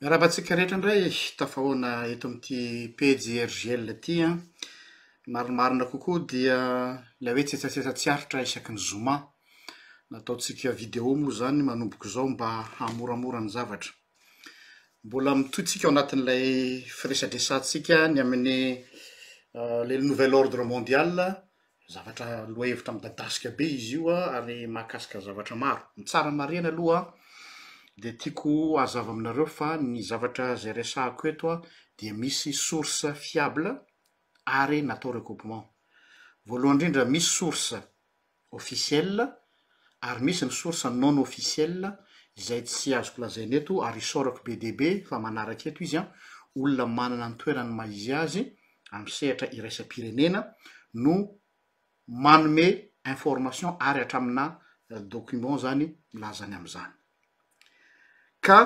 Miarahaba antsika rehetra indray tafahaona eto amin'ity pejy RJL ity an! Ny marimarina kokoa dia ilay hoe tsetsatsetsa tsy aritra isaky ny zoma. Nataontsika video moa izany manomboka izao mba hahamoramora ny zavatra. Mbola mitohy tsika ao anatin'ilay firesadresantsika ny amin'ny le nouvel ordre mondial, Zavatra lohahevitra midadasika be izy io an, ary mahakasika zavatra maro. Ny tsara marihana aloha an, dia tiako hazava aminareo fa ny zavatra izay resahako eto an, dia misy source fiable ary natao recoupement. Voalohany indrindra, misy source officielle Ary misy ny source non officielle izay tsy azoko lazaina eto ary isaorako be dia be fa manaraka eto izy an, olona manana ny toerany maha izy azy amin'ny sehatra iraisam-pirenena no manome information ary hatramina document izany milaza ny amin'izany. Ka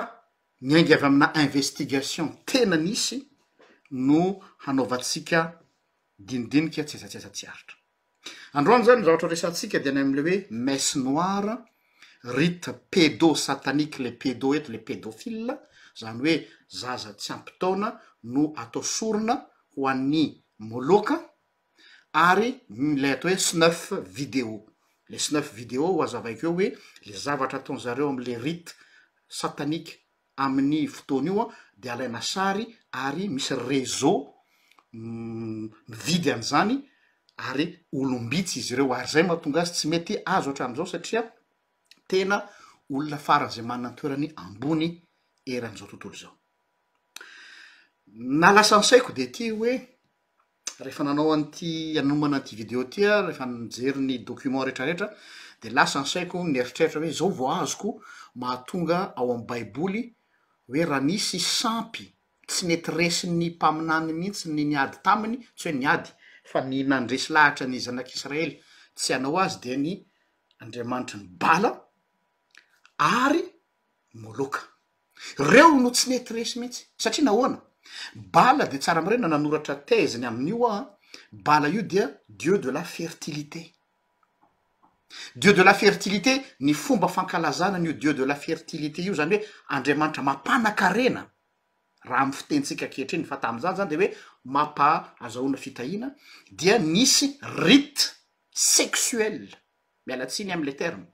miainga avy amina investigation tena nisy no hanaovantsika dinidinika tsy aiza tsy aiza tsy aritra. Androany zany ny zavatra ho resahantsika dia ny amin'ilay hoe messe noire, rite pédo-satanique, le pédo eto le pédophile, zany hoe zaza tsy ampy taona no atao sorona ho an'ny moloka ary ilay atao hoe snuff video. Le snuff video ho azavaiko eo hoe le zavatra ataon'zareo am'le rite satanique Amin'ny fotoana io dia alaina sary ary misy réseau mividy an'izany ary olom-bitsy izy ireo ary izay no mahatonga azy tsy mety azo hatramin'izao satria tena olona faran'izay manana ny toerany ambony eran'izao tontolo izao. Ny naha lasa ny saiko dia ity hoe. rehefa nanao an'ity hanomana an'ity video ity aho, rehefa nijery ny document rehetrarehetra dia lasa ny saiko nieritreritra hoe izao vao azoko mahatonga ao amin'ny baiboly hoe raha nisy sampy tsy nety resin'ny mpaminany mihitsy ny niady taminy, tsy hoe niady fa ny nandresy lahatra ny zanak'israely tsy hanao azy dia ny andriamanitry ny bala ary Moloka. Reo no tsy nety resy mihitsy. Satria nahoana? Bala dia tsara marina nanoratra thèse-ny amin'io aho an, Bala io dia dieu de la fertilité. Dieu de la fertilité, ny fomba fankalazana an'io dieu de la fertilité io izany hoe andriamanitra mampanakarena, raha amin'ny fitenintsika ankehitriny, fa tamin'izany izany dia hoe mampa-azahoana fitahiana, dia nisy rite sexuel miala tsiny am le terme,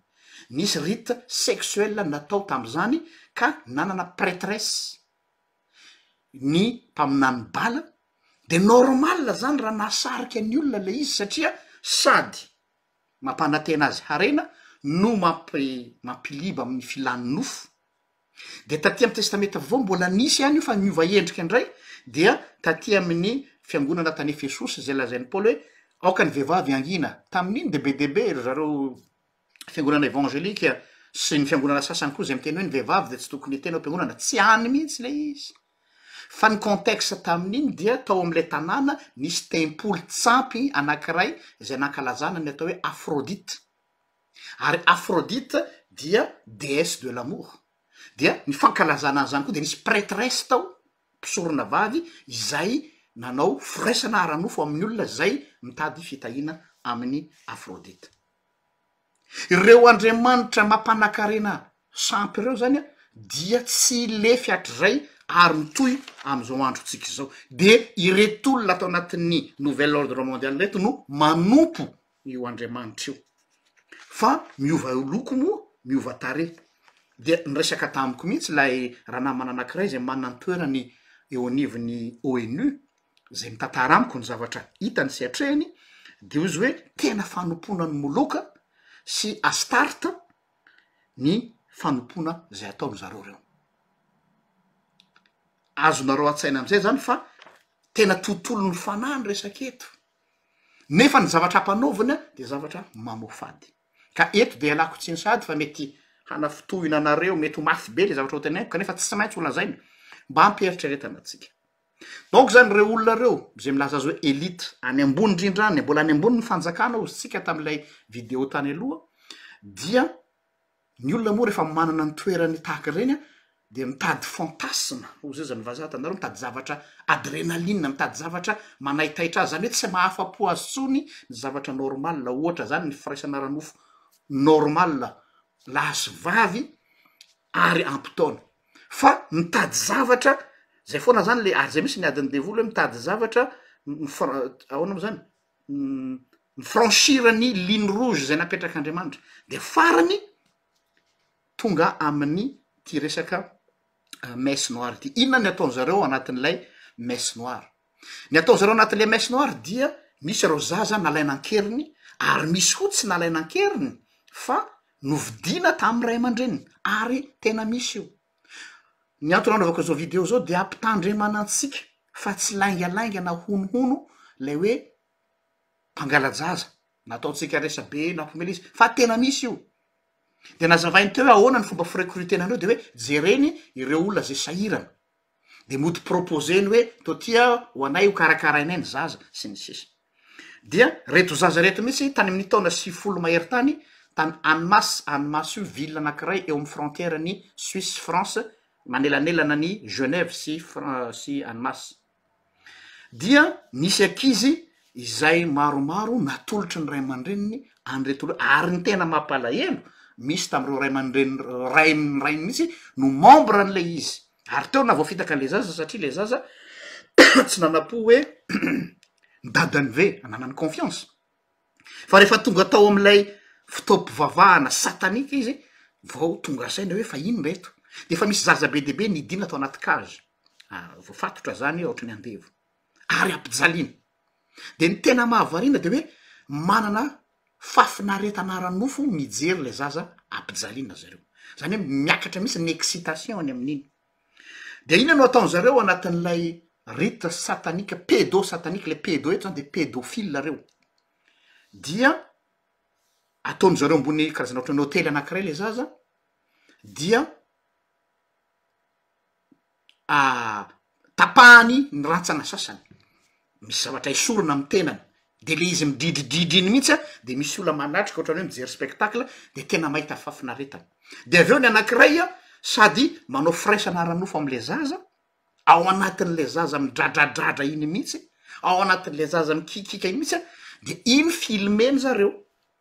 nisy rite sexuel natao tamzany ka nanana pretresse ny mpaminany bala de normal zany raha nahasarika ny olona le izy satria sady mampanatena azy harena no mampi-mampiliba amin'ny filan'ny nofo. De taty amin'ny testamenta vaovao mbola nisy ihany io fa niova endrika indray dia taty amin'ny fiangonana tany Efesosy izay lazain'i Paoly hoe aoka ny vehivavy hangina, tamin'iny dia be dia be ry zareo fiangonana evangelika sy ny fiangonana sasany koa izay miteny hoe ny vehivavy dia tsy tokony hiteny ao am-piangonana, tsy any mihitsy ilay izy fa ny contexte tamin'iny dia tao amin'ilay tanàna nisy tempoly tsampy anankiray izay nankalazana ny atao hoe Aphrodite. ary Aphrodite dia déesse de l'amour, dia ny fankalazana an'izany koa dia nisy prêtresse tao, mpisorona vavy, izay nanao firaisana ara-nofo amin'ny olona izay mitady fitahiana amin'i Aphrodite. Ireo andriamanitra mampanakarena sampy ireo izany dia tsy lefy hatrizay ary mitohy amin'izao androntsika izao. Dia ireto olona ato anatin'ny nouvel ordre mondial ireto no manompo io Andriamanitra io, fa miova loko moa, miova tarehy. Dia niresaka tamiko mihitsy ilay ranamana anankiray izay manana ny toerany eo anivon'ny ONU, izay mitantara amiko ny zavatra hitany sy atrehiny, dia hoy izy hoe tena fanompoana an'i Moloka sy Astarta ny fanompoana izay ataon-dry zareo ireo. Azonareo an-tsaina amin'izay izany fa tena tontolon'ny fanahy ny resaka eto. nefa ny zavatra ampanaovina dia zavatra mamoafady ka eto dia ialako tsiny sahady fa mety hanafintohina anareo mety ho mafy be le zavatra ho tenaiko kanefa tsy maintsy ho lazaina mba ampieritreretana antsika donc zany ireo olona ireo izay milaza azy hoe elite any ambony indrindra any mbola any ambony ny fanjakana ozy tsika tamin'ilay video tany aloha dia Ny olona moa rehefa manana ny toerany tahaka ireny dia mitady fantasme, hoy izay izany vazaha tandaro, mitady zavatra adrenaline, mitady zavatra manaitaitra azy, izany hoe tsy mahafa-po azy intsony ny zavatra normal, ohatra izany ny firaisana ara-nofo normal lahy sy vavy ary ampitaony, fa mitady zavatra, izay foana izany le ary izay mihintsy ny adin'ny devoly hoe mitady zavatra, ahoana moa izany? mi-franchir ny ligne rouge zay napetrak'Andriamanitra, de farany tonga amin'ny ty resaka messe noire ty. Inona ny ataony zareo anatin'ilay messe noire? Ny ataony zareo anatin'ilay messe noire dia misy ireo zaza nalaina an-keriny ary misy koa tsy nalaina an-keriny fa novidiana tamin'ny ray aman-dreniny ary tena misy io. Ny antony anaovako izao video izao dia hampitandremana antsika fa tsy laingalainga na honohono lay hoe mpangala-jaza na ataontsika resa-be na mpomela izy fa tena misy io de nazavainy teo hoe ahoana ny fomba firekoritena an'ireo de hoe jereny ireo olona zay sahirana de mody proposeny hoe to tia ho anay ho karakarainay ny zaza sy ny sisa dia reto zaza reto mihitsy tany amin'ny taona sivifolo mahery tany tany Annemasse, Annemasse io ville anankiray eo amin'ny frontière an'i Suisse sy France manelanelana an'i Genève sy Fran- sy Annemasse dia nisy ankizy izay maromaro natolotry ny ray aman-dreniny an'ireto olona ary ny tena mampalahelo misy tamin'ireo ray aman-dreniny ray ny rainy mihitsy no membre an'ilay izy Ary teo navoafitaka an'ilay zaza satria ilay zaza tsy nanam-po hoe ny dadany ve hananany confiance. Fa rehefa tonga tao amin'ilay fotoam-pivavahana satanika izy vao tonga saina hoe fa inona eto. Dia efa misy zaza be dia be nidina tao anaty cage, voafatotra izany ohatran'ny andevo, ary ampijaliana. de ny tena mahavariana de hoe manana fafinaretana ara-nofo mijery le zaza ampijaliana zareo zany hoe miakatra mihitsy ny excitation any amin'iny de ina no ataony zareo anatin'ilay rite satanika pedo satanika le pedo eto zany de pedofile reo dia ataony zareo ambony karazana ohatran'ny hotely anakiray le zaza dia tapahany ny rantsana sasany, misy zavatra esorina amin'ny tenany, de le izy midridridridry iny mihitsy an, de misy olona manatrika ohatrany hoe mijery spectacle de tena mahita fahafinaretana, de avy eo ny anankiray an sady manao firaisana ara-nofo amle zaza, ao anatin'le zaza midradradradra iny mihitsy, ao anatin'le zaza mikiakiaka iny mihitsy an, de iny filmeny zareo.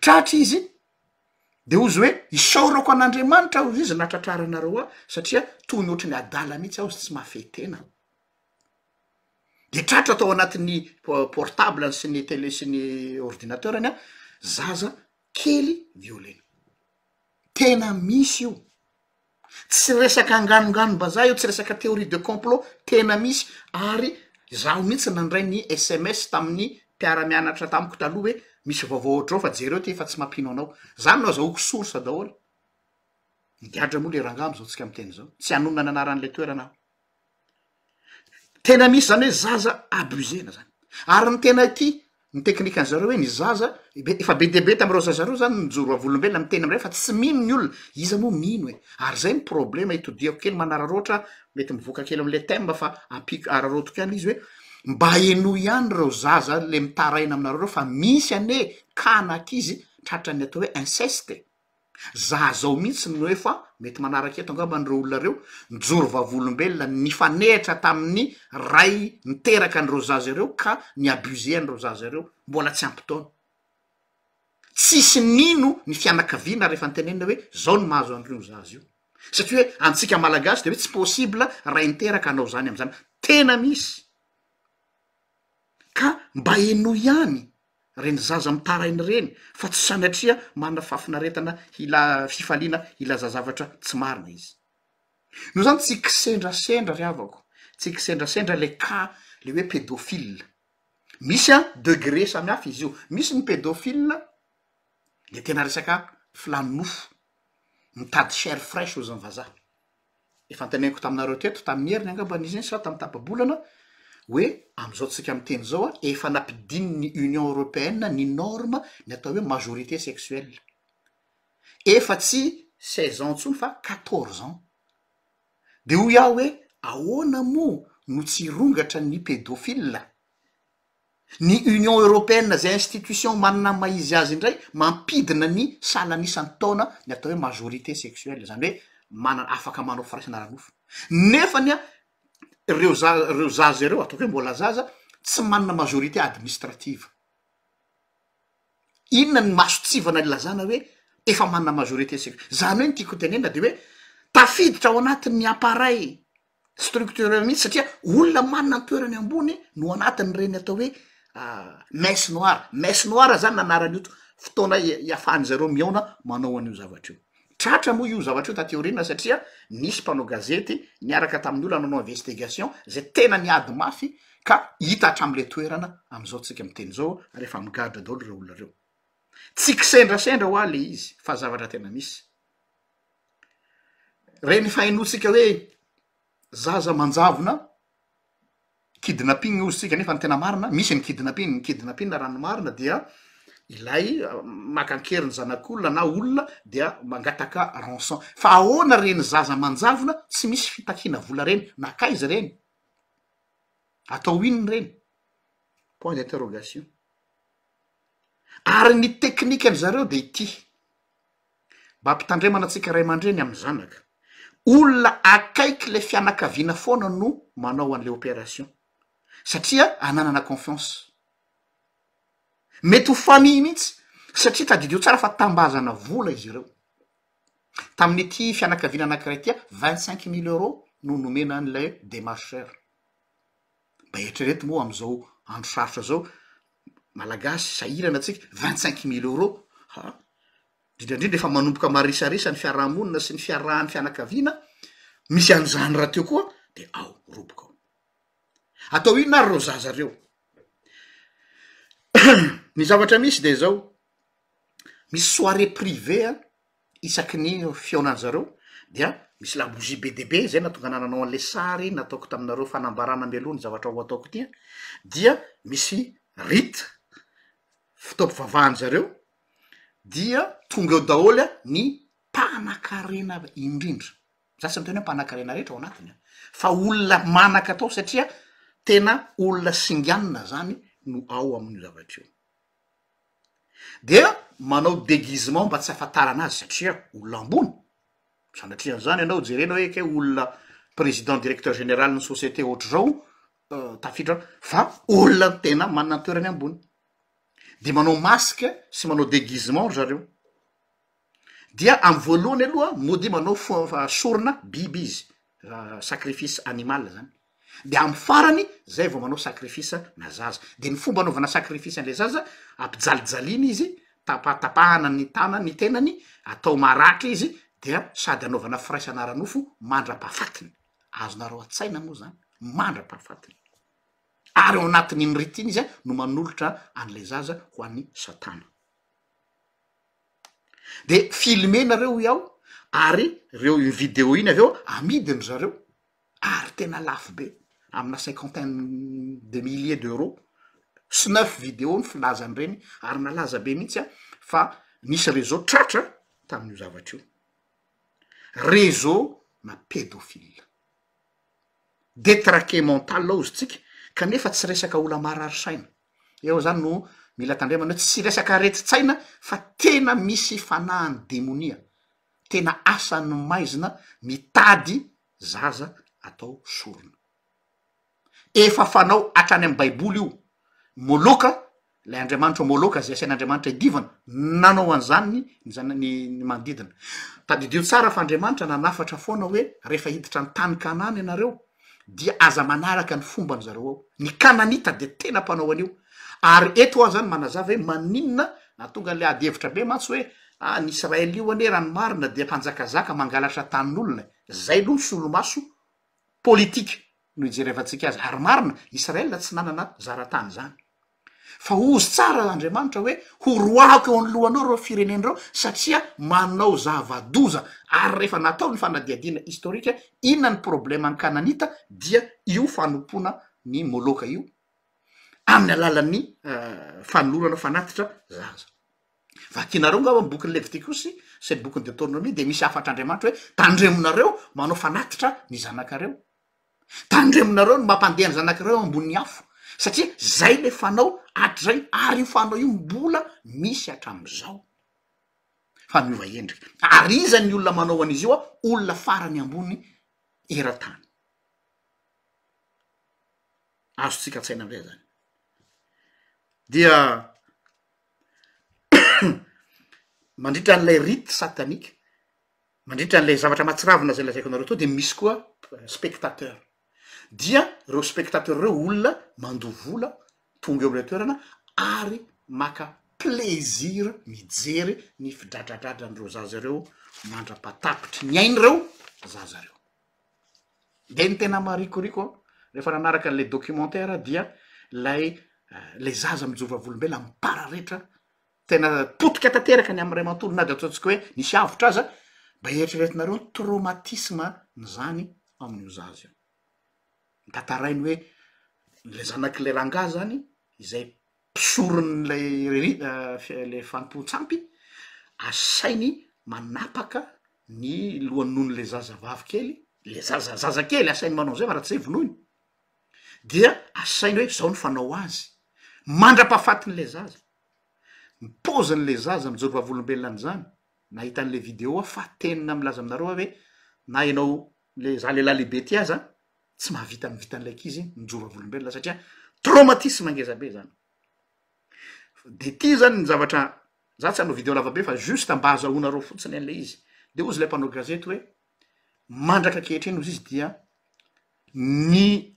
tratra izy de hozy hoe isaorako an'andriamanitra hozy izy nahatratraranareo ahy satria toy ny ohatry ny adala mihitsy aho tsy mahafehy tena de tratra tao anatin'ny portable-ny sy ny tele sy ny ordinateur-ny an zaza kely violena tena misy io Tsy resaka anganoganom-bazaha io, tsy resaka théorie de complot, tena misy ary izaho mihitsy nandray ny sms tamin'ny mpiara-mianatra tamiko taloha hoe misy vaovao ohatr'izao fa jereo ity fa tsy mampino anao. Izany no azahoako source daholo. Migadra moa ilay rangahy amin'izao tsika miteny izao. Tsy hanonona ny anaran'ilay toerana aho. tena misy zany hoe zaza abusena zany ary ny tena ty ny teknikan'ny zareo hoe ny zaza be efa be dia be tamin'ireo zaza reo zany nijoro vavolombelona ny tena amindray fa tsy mino ny olona iza moa mino e ary zay ny problema itodiako kely manararaotra mety mivoaka kely amle thème fa ampiko araraotiko ihany le izy hoe mba henoy ihany reo zaza le mitaraina aminareo reo fa misy anie ka an'ankizy tratran'ny atao hoe inceste e. Za zao mihitsy no hoe fa mety manaraka eto angamba an'ireo olona ireo, nijoro vavolombelona nifanehitra tamin'ny ray niteraka an'ireo zaza ireo ka ni-abuser an'ireo zaza ireo mbola tsy ampy taona. Tsisy nino ny fianakaviana rehefa nitenenina hoe zao no mahazo an'ireo zaza io. Satria hoe antsika malagasy dia hoe tsy possible ray niteraka hanao zany amin'izany. Tena misy. Ka mba henoy ihany reny zaza mitaraina ireny fa tsy sanatria manana fahafinaretana hila fifaliana hilaza zavatra tsy marina izy noho izany tsy kisendrasendra ry havako tsy kisendrasendra le cas le hoe pedophile misy a degré samihafa izy io misy ny pedophile le tena resaka filany nofo mitady chaire fraiche hoy zany vazaha Efa antenaiko taminareo teto, tamin'ny heriny angambany izy iny sa tamin'ny tapa-bolana, hoe amin'izao tsika miteny izao a, efa nampidinin'ny Union Européenne ny norme ny atao hoe majorité sexuelle. Efa tsy seize ans intsony fa quatorze ans. Dia hoy aho hoe ahoana moa no tsy hirongatra ny pédophile? ny Union Européenne izay institution manana ny maha izy azy indray mampidina ny salan'ny isan'ny taona ny atao hoe majorité sexuelle izany hoe manana afaka manao firaisana ara-nofo nefa ny ireo za- ireo zaza ireo ataoko hoe mbola zaza tsy manana majorité administrative inona ny masotsivana ilazana hoe efa manana majorité sexuelle izany hoe ny tiako ho tenenina dia hoe tafiditra ao anatin'ny appareil structurel mihitsy satria olona manana ny toerany ambony no anatin'ireny atao hoe messe noire, messe noire zany anaran'io to- fotoana ia- iafahan'ny zareo mihaona manao an'io zavatra io, tratra moa io zavatra io taty aoriana satria nisy mpanao gazety niaraka tamin'ny olona nanao investigation zay tena niady mafy ka hita hatramin'le toerana am'zao tsika miteny zao ary efa migadra daholo reo olona reo, tsy kisendrasendra ho'aho le izy fa zavatra tena misy. Ireny fahainoantsika hoe zaza manjavona, kidnapping hoy isika nefa ny tena marina, misy ny kidnapping, ny kidnapping raha ny marina dia ilay maka an-kery ny zanak'olona na olona dia mangataka rançon. Fa ahoana ireny zaza manjavona tsy misy fitakiana vola ireny, nankaiza ireny, atao inona ireny? Point d'interrogation. Ary ny teknikan-dry zareo dia ity. mba hampitandremana antsika ray aman-dreny amin'ny zanaka, olona akaiky ilay fianakaviana foana no manao an'ilay operation satria ananana confiance, mety ho famille mihitsy satria tadidio tsara fa tambazana vola izy ireo, tamin'ity fianakaviana anankiray ity vingt cinq mille euros no nomena an'ilay demarcheur. Mba eritrereto moa amin'izao andro sarotra zao, Malagasy sahirana tsika, vingt cinq mille euros ha, indrindra indrindra efa manomboka marisarisa ny fiaraha-monina sy ny fiarahan'ny fianakaviana, misy an'izany rahateo koa de ao roboka ao. Atao inona ary reo zaza reo? Ny zavatra misy de zao, misy soirée privée an, isaky ny fihaonan'ny zareo dia misy labozia be dia be izay nahatonga anah nanao an'le sary nataoko taminareo fanambarana mialoha ny zavatra ho ataoko ity a, dia misy rite fotoam-pivavahany zareo dia tonga eo daholo a ny mpanakarena avy indrindra, za tsy miteny hoe mpanakarena rehetra ao anatiny a, fa olona manaka atao satria tena olona singanina zany no ao amin'io zavatra io. dia manao deguisement mba tsy hahafantarana azy satria olona ambony, sanatria an'izany ianao jerena hoe ekeo olona président directeur général ny société ohatr'izao tafiditra ao fa olona tena manana ny toerany ambony, dia manao masque sy manao deguisement ry zareo. dia amin'ny voalohany aloha modia manao fo- fa- sorona biby izy sacrifice animal zany de amin'ny farany zay vao manao sacrifice na zaza de ny fomba anaovana sacrifice an'le zaza ampijalijaliana izy tapatapahana ny tana- ny tenany atao maratra izy dia sady anaovana firaisana ara-nofo mandra-pahafatiny, azonareo an-tsaina moa zany mandra-pahafatiny ary ao anatin'iny rite iny izy a no manolotra an'le zaza ho an'i satana. de filmer nareo hoy aho ary reo iny video iny avy eo amidiny zareo ary tena lafo be amina cinquantaine de milliers d'euros sy neuf video ny filaza an'ireny ary nalaza be mihitsy aho fa nisy reseau tratra tamin'io zavatra io reseau na pedofile detraquer mental hozy tsika kanefa tsy resaka ola-marary saina Eo zany no mila tandremana hoe tsy resaka aretin-tsaina fa tena misy fanahan'ny demonia, tena asan'ny maizina mitady zaza atao sorona. Efa fanao hatrany amin'ny baiboly io, Moloka, ilay andriamanitro Moloka izay asain'Andriamanitra iadivana, nanao an'izany ny zana- ny ny manodidina. Tadidio tsara fa Andriamanitra nanafatra foana hoe rehefa hiditra ny tany Kanana ianareo dia aza manaraka ny fomban zareo ao, ny kananita dia tena mpanao an'io, ary eto aho zany manazava hoe maninona nahatonga an'ilay ady hevitra be mantsy hoe ah ny Israel io anie raha ny marina dia mpanjakazaka mangalatra tanin'olona zay aloha ny solomaso politika no ijerevantsika azy, ary marina Israel tsy nanana zara tany zany. fa hozy tsara Andriamanitra hoe horoahako eo anoloanao ireo firenena ireo satria manao zava-doza ary rehefa natao ny fanadihadiana historique inona ny problème ny kananita dia io fanompoana ny moloka io amin'ny alalan'ny fanolorana fanatitra zaza vakinareo ngamba ny bokin'ny levitikosy sy ny bokin'ny detornomia dia misy hafatr'Andriamanitra hoe tandremonareo manao fanatitra ny zanakareo tandremonareo ny mampandeha ny zanak'ireo eo ambonin'ny afo satria zay le fanao hatrizay ary io fanao io mbola misy hatram'izao fa miova endrika ary iza ny olona manao an'izy io a olona farany ambony eran-tany azontsika an-tsaina amzay zany dia mandritra an'ilay rite satanique Mandritra an'ilay zavatra mahatsiravina izay lazaiko anareo teo dia misy koa spectateur, dia reo spectateur reo olona mandoa vola tonga eo am'ilay toerana ary maka plaisir mijery ny fidradradradran'ireo zaza ireo mandra-pahatapitry ny ainy reo zaza reo, de ny tena marikoriko an rehefa nanaraka an'ilay documentaire dia lay lay zaza mijovavolombelona mipararetra tena potika tanteraka ny amin'iray manontolo na de ataontsika hoe nisy avotra aza, mba eritreretinareo ny traumatisme n'izany amin'io zaza io, tantarainy hoe le zanak'ilay rangahy zany izay mpisoron'ilay riri- fi- le fanompoan-tsampy asainy manapaka ny lohan'ny nono'le zazavavy kely, le zaza zazakely asainy manao an'izay fa raha tsy zay vonoiny, dia asainy hoe zao ny fanao azy mandra-pahafatin'ilay zaza. ny paozin'ilay zaza mijoro vavolombelona an'izany, nahita an'ilay video aho fa tena milaza aminareo aho hoe na ianao le za lehilahy lehibe ity aza tsy mahavita ny vitan'ilay ankizy mijoro vavolombelona satria traumatisme ngeza be zany, de ity zany ny zavatra za tsy hanao video lavabe fa juste mba hazahoanareo fotsiny an'ilay izy, de hozy ilay mpanao gazety hoe mandraka ankehitriny hozy izy dia ny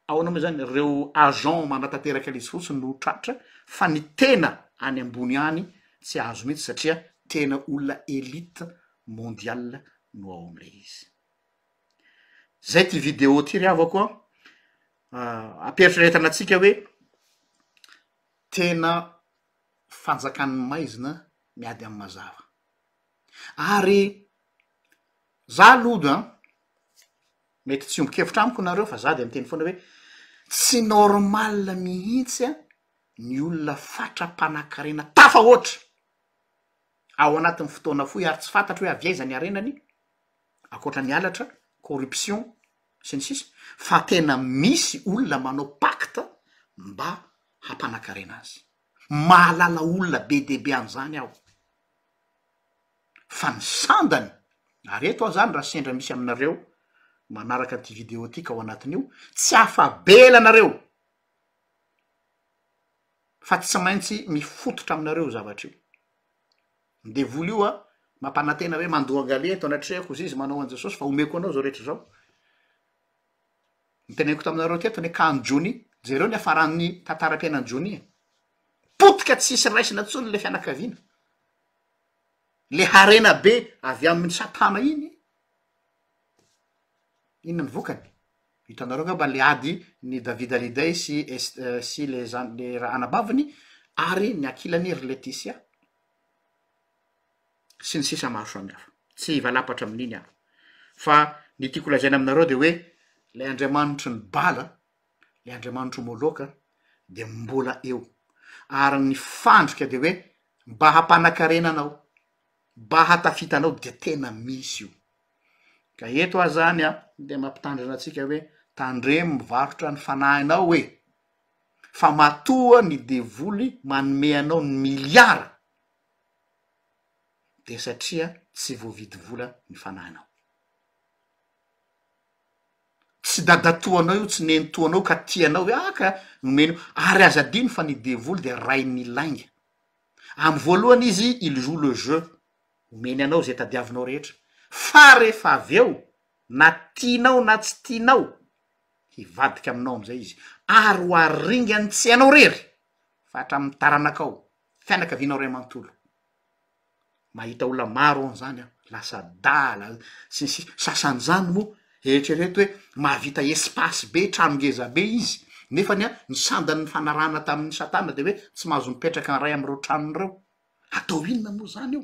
Ahoana moa izany? Ireo agents manatanteraka ilay izy fotsiny no tratra fa ny tena any ambony any tsy azo mihitsy satria tena olona elite mondial no ao amin'ilay izy. Zay ity vidéo ity ry havako a! Ah, ampieritrretana antsika hoe tena fanjakan'ny maizina miady amin'ny mazava. Ary za aloha an, Mety tsy hiombon-kevitra amiko nareo fa za dia miteny foana hoe tsy normal mihitsy ny olona fatra mpanakarena tafahoatra ao anatin'ny fotoana fohy ary tsy fantatro hoe avy aiza ny harenany ankoatra ny halatra, corruption sy ny sisa fa tena misy olona manao pacte mba hampanakarena azy. Mahalala olona be dia be an'izany aho. fa ny sandany, ary eto aho zany raha sendra misy aminareo manaraka ty video ty ka ao anatin'io, tsy afa-bela anareo fa tsy maintsy mifototra aminareo io zavatra io, ny devoly io a mampanantena hoe mandoa angalia eto anatrehako zay izy manao an'i jesosy fa omeko anao zao rehetra zao, ny teneniko taminareo teto ny akan'i johnny, jereo ny hafaran'ny tantaram-piainan'i johnny e, potika tsisy raisina tsony le fianakaviana. le harena be avy aminy satana iny inona ny vokany hitanareo nga mba le ady ny davida lidey sy est- sy le zan- le ra anabaviny ary ny ankilany ry letisia sy ny sisa maro samy hafa tsy hivalapatra amin'iny aho fa ny tiako lazaina aminareo de hoe lay andriamanitry ny bala le andriamanitr'o Moloka de mbola eo ary ny fandrika de hoe mba hampanakarena anao, mba hatafita anao de tena misy io, ka eto aho zany an de mampitandrina antsika hoe tandremo mivarotra ny fanahinao e, fa matoa ny devoly manome anao ny miliara de satria tsy voavidy vola ny fanahinao. tsy dadatoanao io, tsy nenitoanao ka tianao hoe ah ka nomeny io, ary aza adino fa ny devoly dia rain'ny lainga, amin'ny voalohany izy il joue le jeu, omeny anao zay tadiavinao rehetra, fa rehefa avy eo na tianao na tsy tianao, hivadika aminao am'zay izy, ary ho aringany tsy ianao rery fa hatramin'ny taranakao, fianakavianao ray manontolo, mahita olona maro aho zany an, lasa adala sy ny sisa, sasan'izany moa eritrereto hoe mahavita espace be, trano ngeza be izy nefany an ny sandany nifanarahana tamin'i satana de hoe tsy mahazo mipetraka iray amin'ireo tranony ireo, atao inona moa zany io?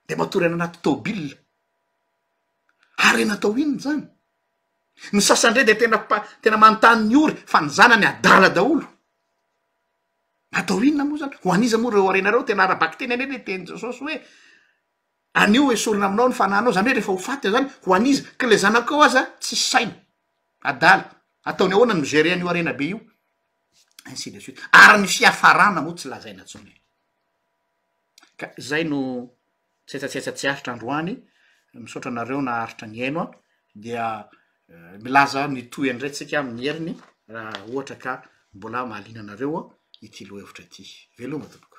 de matory any anaty tôbila, harena atao inona zany? ny sasany ndray de tena mpa- tena manontany ny ory fa ny zanany adala daholo. Atao inona moa izany? Ho an'iza moa ireo harena ireo? Tena ara-bakiteny anie ilay tenin'i Jesosy hoe anio esorina aminao ny fanahinao, izany hoe rehefa ho faty izany, ho an'iza? Ka ilay zanakao aza tsisy saina, adala, ataony ahoana ny mi-gérer an'io harena be io? Ainsi de suite. Ary ny fiafarana moa tsy lazaina intsony e! Ka zay no tsetsatsetsa tsy aritra androany, misaotra anareo naharitra nihaino an, dia milaza ny tohiny indray tsika amin'ny heriny raha ohatra ka mbola mahaliana anareo ity lohahevitra ity. Veloma tompoko.